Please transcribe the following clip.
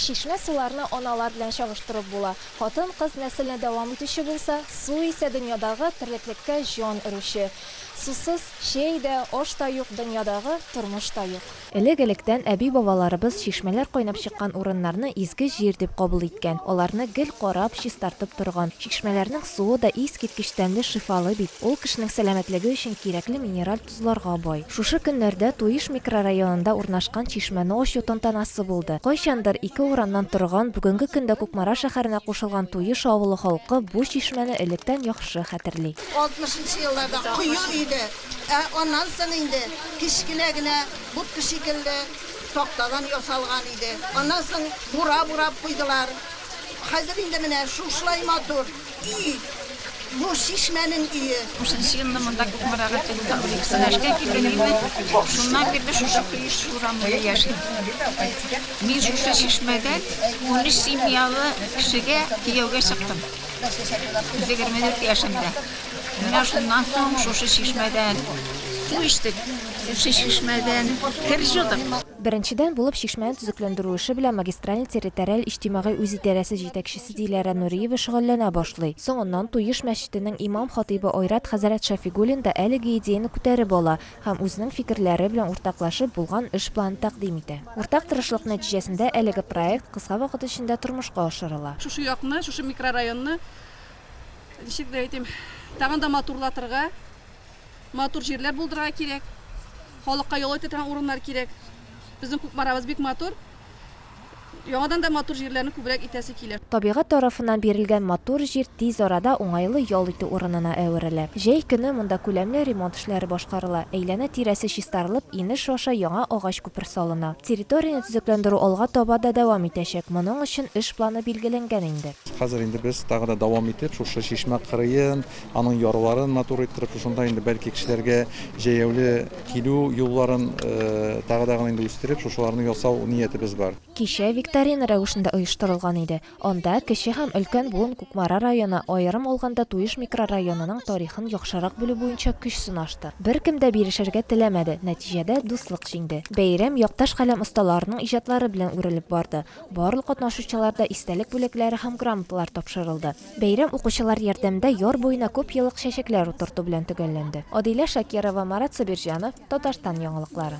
Чишмә суларны аналар белән чагыштырып була. Хатын-кыз нәселне дәвам итүче булса, су исә дөньядагы терлеклеккә җан өрүче. Сусыз чәй дә, аш та юк, дөньядагы тормыш та юк. Элек-электән әби-бабаларыбыз чишмәләр кайнап чыккан урыннарны изге җир дип кабул иткән, аларны гел карап, чистартып торган. Чишмәләрнең суы да искиткеч тәмле-шифалы бит, ул кешенең сәламәтлеге өчен кирәкле минераль тозларга бай. Шушы көннәрдә Туеш микрорайонында урнашкан чишмәне ачу тантанасы булды. Кайчандыр ике урамнан торган, бүгенге көндә Кукмара шәһәренә кушылган Туеш авылы халкы бу чишмәне электән яхшы хәтерли. Алтмышынчы елларда кое иде, ә аннан соң инде кечкенә генә будка шикелле тактадан ясалган иде. Аннан соң бура бурап куйдылар. Хәзер инде менә шушылай матур. И, бу чишмәнең өе! Унсынчы елны монда Кукмарага килдем. Унике сәнәшкә килдем инде. Шуннан бирле шушы Кыйш урамында яшим. Мин шушы чишмәдән унөч семьялы кешегә кияүгә чыктым. Егерме дүрт яшемдә. Менә шуннан соң шушы чишмәдән су эчтек, шушы чишмәдән кер җудык. Беренчедән, булып чишмәне төзекләндерү эше белән магистральный территориаль иҗтимагый үзидарәсе җитәкчесе Диләрә Нуриева шөгыльләнә башлый. Соңыннан Туеш мәчетенең имам-хатыйбы Айрат хәзрәт Шәфигуллин да әлеге идеяне күтәреп ала һәм үзенең фикерләре белән уртаклашып, булган эш планын тәкъдим итә. Уртак тырышлык нәтиҗәсендә әлеге проект кыска вакыт эчендә тормышка ашырыла. Шушы якны, шушы микрорайонны, ничек дә әйтим, тагын да матурлатырга, Матур җирләр булдырырга кирәк. Халыкка ял итә торган урыннар кирәк. Безнең Кукмарабыз бик матур. Яңадан да матур җирләрне күбрәк итәсе килә. Табигать тарафыннан бирелгән матур җир тиз арада уңайлы ял итү урынына әверелә. Җәй көне монда күләмле ремонт эшләре башкарыла, әйләнә-тирәсе чистарылып, инеш аша яңа агач күпер салына. Территорияне төзекләндерү алга таба да дәвам итәчәк, моның өчен эш планы билгеләнгән инде. Хәзер инде без тагы да дәвам итеп шушы чишмә кырыен, Аның ярларын матур иттереп, шушында инде бәлки кешеләргә җәяүле килү юлларын тагы да гына инде үстереп, шушыларны ясау ниятебез бар. Кичә викторина рәвешендә оештырылган иде. Анда кече һәм өлкән буын Кукмара районы, аерым алганда Туеш микрорайонының тарихын яхшырак белү буенча көч сынашты. Беркем дә бирешергә теләмәде, нәтиҗәдә дуслык җиңде. Бәйрәм якташ каләм осталарының иҗатлары белән үрелеп барды. Барлык катнашучыларда истәлек бүләкләре һәм грамоталар тапшырылды. Бәйрәм укучылар ярдәмендә яр буена күп еллык чәчәкләр утырту белән төгәлләнде. Адилә Шакирова, Марат Сабирҗанов, Татарстан яңалыклары.